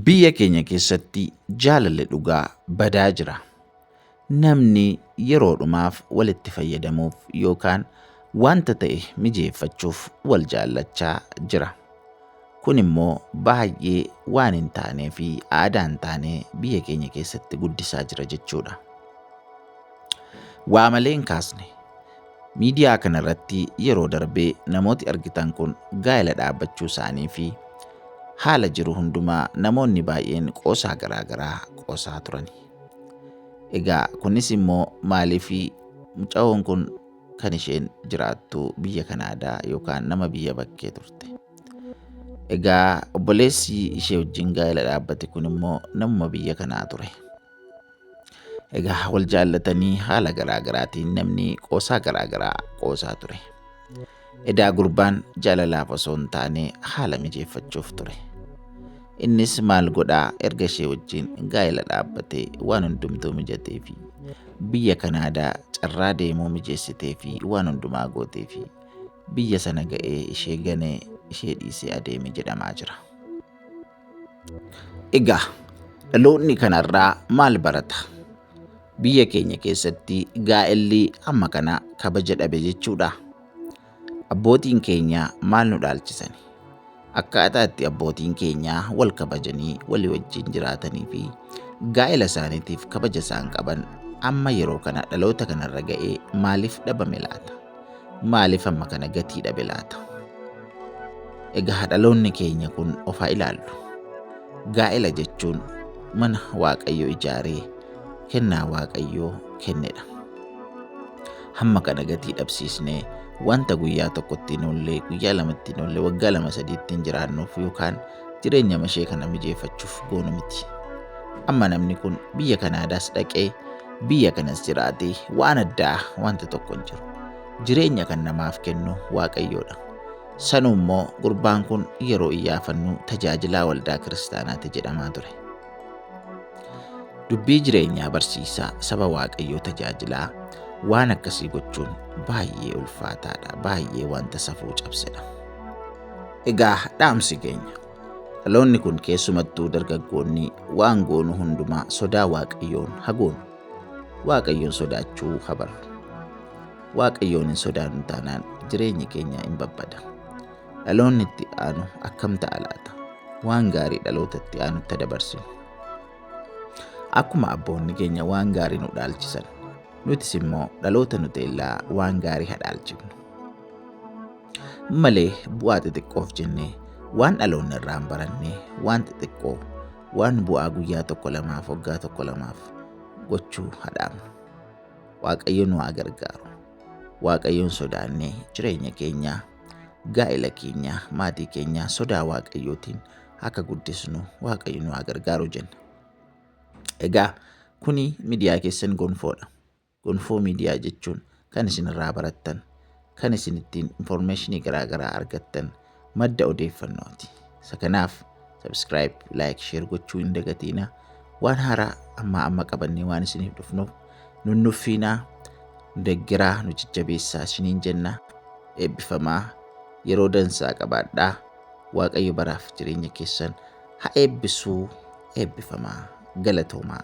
Biyya keenya keessatti jaalalli dhugaa badaa jira. Namni yeroodhumaaf walitti fayyadamuuf yookaan wanta ta'e mijeeffachuuf wal jaallachaa jira. Kun immoo baay'ee waan hin taanee fi aadaa hin taane biyya keenya keessatti guddisaa jira jechuudha. Waa malee hin kaasne. Miidiyaa kana irratti yeroo darbe namooti argitan kun gaa'ela dhaabbachuu isaanii fi haala jiru hundumaa namoonni baay'een qoosaa garaa garaa qoosaa turani. Egaa kunis immoo maaliif mucayoon kun kan isheen jiraattu biyya Kanaadaa yookaan nama biyya bakkee turte. Egaa obboleessi ishee wajjin gaa'ela dhaabbate kun immoo namuma biyya kanaa ture. Egaa wal jaallatanii haala garaa garaatiin namni qoosaa garaa garaa qoosaa ture. Edaa gurbaan jaalalaaf osoo hin taane haala mijeeffachuuf ture. Innis maal godhaa erga ishee wajjin gaa'ela dhaabbatee waan hundumtuu mijatee fi biyya Kanaadaa carraa deemuu mijeessitee fi waan hundumaa gootee fi biyya sana ga'ee ishee ganee ishee dhiisee adeeme jedhamaa jira. Egaa dhaloonni kanarraa maal barata? Biyya keenya keessatti gaa'elli amma kana kabaja dhabe jechuudha. Abbootiin keenya maal nu dhaalchisani? Akkaataa itti abbootiin keenya wal kabajanii walii wajjin jiraatanii fi gaa'ela isaaniitiif kabaja isaan qaban amma yeroo kana dhaloota kanarra ga'ee maaliif dhabame laata? maaliif amma kana gatii dhabe laata? Egaa dhaloonni keenya kun of haa ilaallu. Gaa'ela jechuun mana Waaqayyo ijaaree kennaa Waaqayyoo kennedha. Hamma kana gatii dhabsiisnee wanta guyyaa tokkotti hin oolle, guyyaa lamatti hin oolle, waggaa lama sadiitti hin jiraannuuf yookaan jireenya mashee kana mijeeffachuuf goonu miti. Amma namni kun biyya Kanaadaas dhaqee biyya kanas jiraatee waan addaa wanta tokko hin jiru. Jireenya kan namaaf kennu Waaqayyoodha. Sanuu immoo gurbaan kun yeroo iyyaafannu tajaajilaa waldaa kiristaanaati jedhamaa ture. Dubbii jireenyaa barsiisaa saba Waaqayyoo tajaajilaa waan akkasii gochuun baay'ee ulfaataadha, baay'ee wanta safuu cabsedha. Egaa dhaamsi keenya dhaloonni kun keessumattuu dargaggoonni waan goonu hundumaa sodaa waaqayyoon hagoonu waaqayyoon sodaachuu habaru waaqayyoon hin sodaannu taanaan jireenyi keenya hin babbada dhaloonni itti aanu akkam ta'a laata waan gaarii dhaloota itti aanutti dabarsinu akkuma abboonni keenya waan gaarii nu dhaalchisan nutis immoo dhaloota nuteellaa waan gaarii hadhaalchifnu malee bu'aa xixiqqoof jennee waan dhaloonni irraa hin baranne waan xixiqqoo waan bu'aa guyyaa tokko lamaaf waggaa tokko lamaaf gochuu hadhaamnu. Waaqayyo nu haa gargaaru. Waaqayyoon sodaannee jireenya keenyaa, gaa'ela keenyaa, maatii keenyaa sodaa Waaqayyootiin akka guddisnu Waaqayyo nu haa gargaaru jenna. Egaa kuni miidiyaa keessan gonfoodha. Gonfoo Miidiyaa jechuun kan isin irraa barattan, kan isin ittiin information garaa garaa argattan, madda odeeffannooti. Isa kanaaf subscribe, like, share gochuu hin dagatiina. Waan haaraa ammaa amma qabannee waan isiniif dhufnuuf nun nuffiinaa, nu deggeraa, nu jajjabeessaa isiniin jenna. Eebbifamaa yeroo dansaa qabaadhaa. Waaqayyo baraaf jireenya keessan ha eebbisuu. Eebbifamaa galatoomaa.